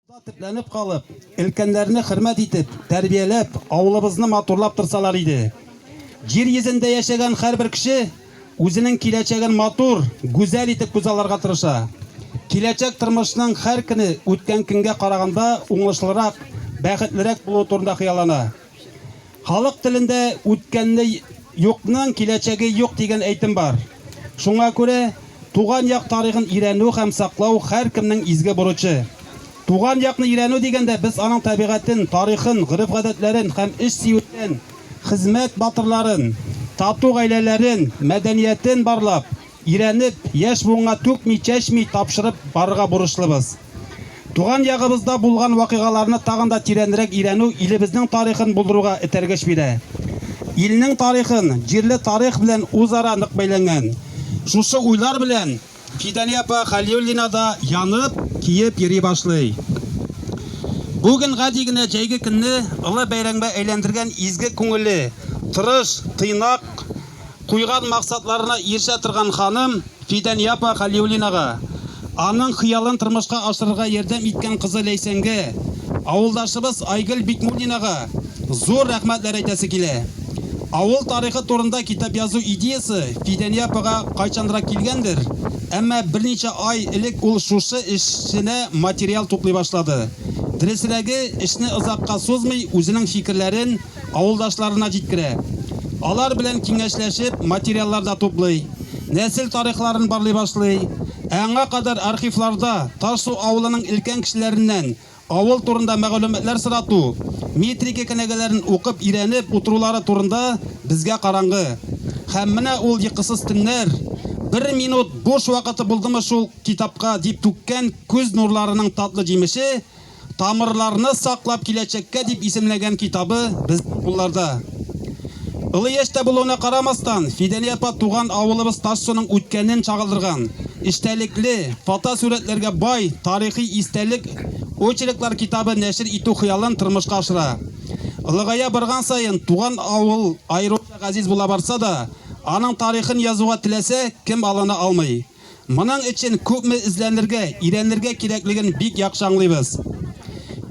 Монда төпләнеп калып, өлкәннәрне хөрмәт итеп, тәрбияләп, авылыбызны матурлап торсалар иде. Җир йөзендә яшәгән һәрбер кеше үзенең киләчәген матур, гүзәл итеп күзалларга тырыша. Киләчәк тормышның һәр көне үткән көнгә караганда уңышлырак, бәхетлерәк булуы турында хыяллана. Халык телендә үткәнне юкның киләчәге юк дигән әйтем бар. Шуңа күрә туган як тарихын өйрәнү һәм саклау һәркемнең изге бурычы. Туган якны өйрәнү дигәндә без аның табигатен, тарихын, гореф-гадәтләрен һәм эшсөюләрен, хезмәт батырларын, тату гаиләләрен, мәдәниятен барлап, Өйрәнеп, яшь буынга түкми-чәчми тапшырып барырга бурычлыбыз. Туган ягыбызда булган вакыйгаларны тагын да тирәнрәк өйрәнү илебезнең тарихын булдыруга этәргеч бирә. Илнең тарихын, җирле тарих белән үзара нык бәйләнгән. Шушы уйлар белән Фидания апа Хәлиуллина да янып, киеп йөри башлый. Бүген гади генә җәйге көнне олы бәйрәңбә әйләндергән изге күңелле, тырыш, тыйнак куйган максатларына ирешә торган ханым Фидания апа Хәлиуллинага, аның хыялын тормышка ашырырга ярдәм иткән кызы Ләйсәнгә, авылдашыбыз Айгөл Бикмуллинага зур рәхмәтләр әйтәсе килә. Авыл тарихы турында китап язу идеясе Фидания апага кайчанрак килгәндер, әмма берничә ай элек ул шушы эшенә материал туплый башлады. Дөресрәге, эшне озакка сузмый, үзенең фикерләрен, авылдашларына җиткерә. Алар белән киңәшләшеп, материаллар да туплый, нәсел тарихларын барлый башлый. Ә аңа кадәр архивларда Ташсу авылының өлкән кешеләреннән авыл турында мәгълүматлар сорату, метрика кенәгәләрен укып өйрәнеп утырулары турында безгә караңгы. Һәм менә ул йокысыз төннәр, бер минут буш вакыты булдымы шул китапка дип түккән күз нурларының татлы җимеше, Тамырларны саклап киләчәккә дип исемләгән китабы безнең кулларда. Олы яшьтә булуына карамастан, Фидәния апа туган авылыбыз Тассоның үткәнен чагылдырган, эчтәлекле, фотосурәтләргә бай тарихи истәлек очерклар китабы нәшер итү хыялын тормышка ашыра. Олыгая барган саен туган авыл аеруча газиз була барса да, аның тарихын язуга теләсә кем алына алмый. Моның өчен күпме эзләнергә, өйрәнергә кирәклеген бик яхшы аңлыйбыз.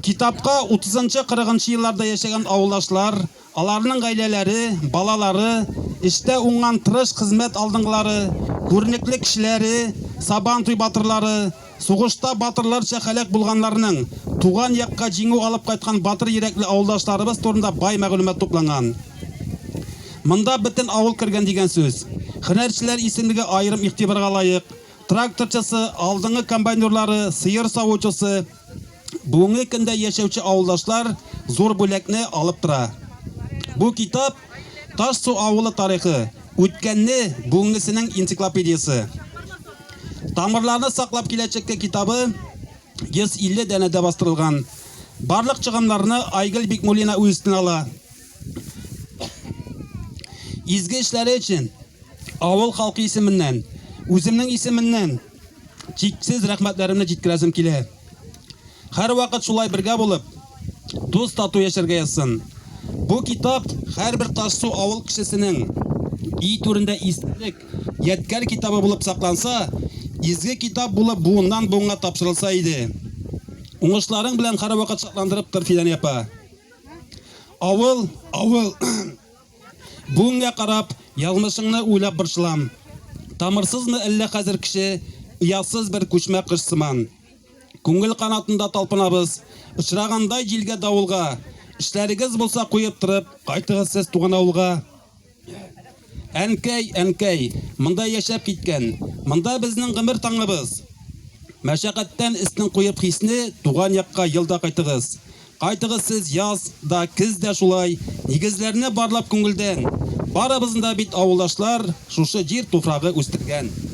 Китапка 30-40 елларда яшәгән авылдашлар, аларның гаиләләре, балалары, эштә уңган тырыш хезмәт алдынгылары, күренекле кешеләре, Сабантуй батырлары, сугышта батырларча һәлак булганнарның, туган якка җиңү алып кайткан батыр йөрәкле авылдашларыбыз турында бай мәгълүмат тупланган. Монда бөтен авыл кергән дигән сүз. Хөнәрчеләр исемлеге аерым игътибарга лаек. Тракторчысы, алдыңгы комбайнерлары, сыер савучысы, бүгенге көндә яшәүче авылдашлар зур бүләкне алып тора. Бу китап Таш су авылы тарихы, үткәнне, бүгенгесенең энциклопедиясе. Тамырларны саклап киләчәккә китабы 150 дәнәдә бастырылган. Барлык чыгымнарны Айгөл Бикмулина үз өстенә ала. Изге эшләре өчен авыл халкы исеменнән, үземнең исеменнән чиксез рәхмәтләремне җиткерәсем килә. Һәр вакыт шулай бергә булып, дус тату яшәргә язсын. Бу китап һәрбер Тассу авыл кешесенең ий түрендә истәлек, ядкәр китабы булып сакланса, изге китап булып буыннан буынга тапшырылса иде. Уңышларың белән һәрвакыт шатландырып тор, Фидания апа. Авыл, авыл. Бүгенгә карап, язмышыңны уйлап борчылам. Тамырсызмы әллә хәзер кеше, оятсыз бер күчмә кыш сыман. Күңел канатында талпынабыз, очраганда җилгә-давылга. Эшләрегез булса куеп торып, кайтыгыз сез туган авылга. Әнкәй, әнкәй, монда яшәп киткән, монда безнең гомер таңыбыз. Мәшәкатьтән эстен куеп хисне туган якка елда кайтыгыз. Кайтыгыз сез яз да, кез дә шулай, нигезләрне барлап күңелдән. Барыбызны да бит авылдашлар шушы җир туфрагы үстергән.